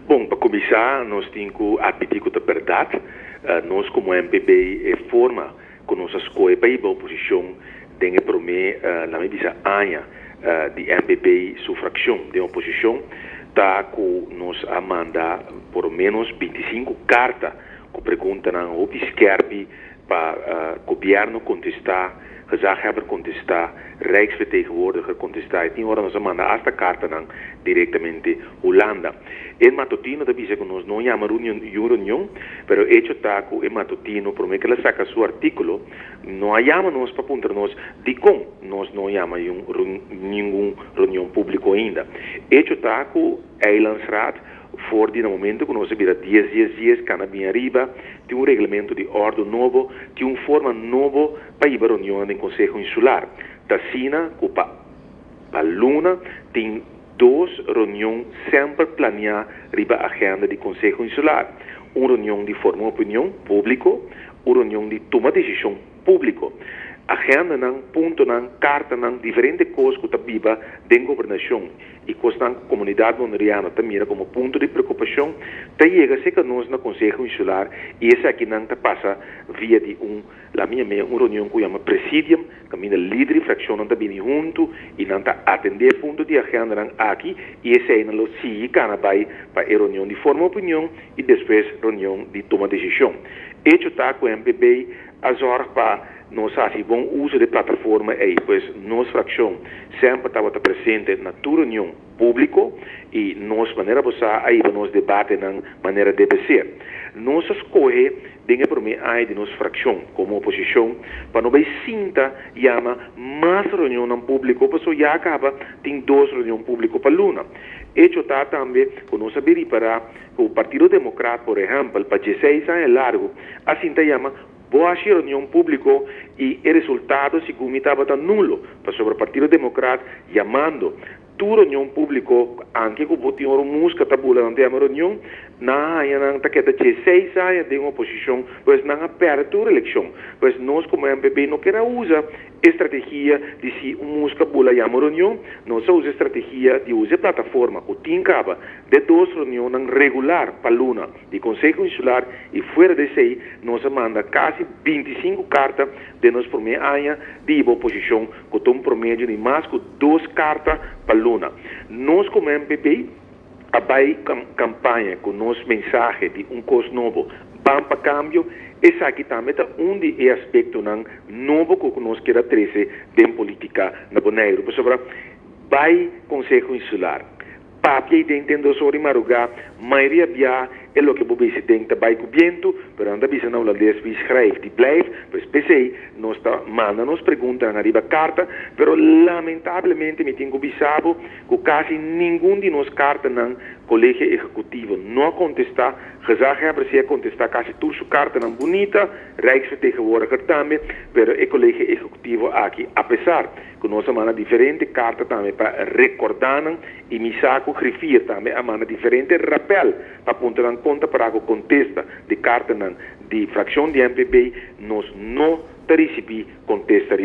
Bon, pa kuminsá nos tin ku admití ku ta bèrdat, nos komo MPB e forma ku nos a skohe pa hiba oposishon den e promé, la mi bisa aña di MPB su frakshon den oposishon ta ku nos a manda por lo ménos binti sinku karta ku preguntanan hopi skèrpi, Pa Gobierno contesta, Gezaghebber contesta, Rijksvertegenwoordiger contesta y tin ora nos a manda hasta cartanan directamente Hulanda. E matutino ta bisa cu nos no yama reunion, y un reunion, pero e hecho ta cu e matutino prome cu el a saca su articulo no a yama nos pa puntra nos dicon nos no yama ningun reunion publico ainda. Hecho ta cu. Eilandsraad, for di na momento ku nos a bira dies dies dies kana bin ariba, tin un reglamento di ordo nobo tin un forma nobo pa hiba reunionnan den Konseho Insular. T'asina ku pa pa luna tin dos reunion semper planiá riba agenda di Konseho Insular, un reunion di forma opinion, públiko, un reunion di tuma desishon, Públiko, agendanan, puntonan, kartanan, diferente kos ku ta biba den gobernashon i kosnan ku komunidat Boneriano ta mira komo punto di preokupashon ta yega serka nos na Konseho Insular i esaki nan ta pasa via di un la mia mea un reunion ku yama Presidium kaminda lider di frakshonnan ta bini huntu i nan ta atendé punto di agendanan aki i eseinan lo sigui kana bai pa e reunion di forma opinion i despues reunion di tuma decision. Echo ta cu MPB a zorg pa nos haci bon uzo d'e plataforma ey pues nos fraccion semper tabata presente na tur reunion publico y nos manera bo sa a hiba nos debatenan manera debe ser. Nos a scoge den e prome aña di nos fraccion como oposicion pa no bay sinta yama mas reunionnan publico paso ya a caba tin dos reunion publico pa luna. Echo ta tambe cu nos a bay ripara. Ku Partido Demokrat, por ehèmpel, pa dieseis aña largu a sinta yama Bo hashi reunion públiko i e resultado segun mi tabata nulo, pasobra Partido Demokrat yamando tur reunion públiko anke ku bo tin un rumus ke ta bula nan ta yama reunion, nan a haña nan ta keda dieseis aña den oposishon, pues nan a pèrdè tur elekshon. Pues nos komo MPB no keda usa E strategia di si un muska bula yama un reunion, nos a usa e strategia di usa e plataforma ku tin kaba den dos reunionnan regular pa luna di Konseho Insular i fuera di esei nos a manda kasi binti sinku karta den nos promé aña di hiba oposishon ku ta un promedio di mas ku dos karta pa luna. Nos ku mmbp. a bai campaña cu nos mensahe di un cos nobo, ban pa cambio, esaki tambe ta un di e aspectonan nobo cu nos kier a trece den politica na Boneiru. Pasobra bai Conseho Insular, papia ayi den den dos ora di maruga, mayoria bia e loke bo besi den ta bai cu bientu, pero nan ta bisa na Hulandes, wie schrijft die blijft, pues p'esey nos ta manda nos preguntanan ariba carta, pero lamentablemente mi tin cu bisa bo, Cu casi ningun di nos cartanan Colegio Ejecutivo no a contesta, Gezaghebber si a contesta casi tur su cartanan bunita, Rijksvertegenwoordiger tambe, pero e Colegio Ejecutivo aki, apesar cu nos a manda diferente carta tambe pa recorda nan y mi sa cu Griffier tambe a manda diferente rappel pa puntra nan con ta para cu contesta di cartanan di fraccion di NPB, nos no ta ricibi contesta riba.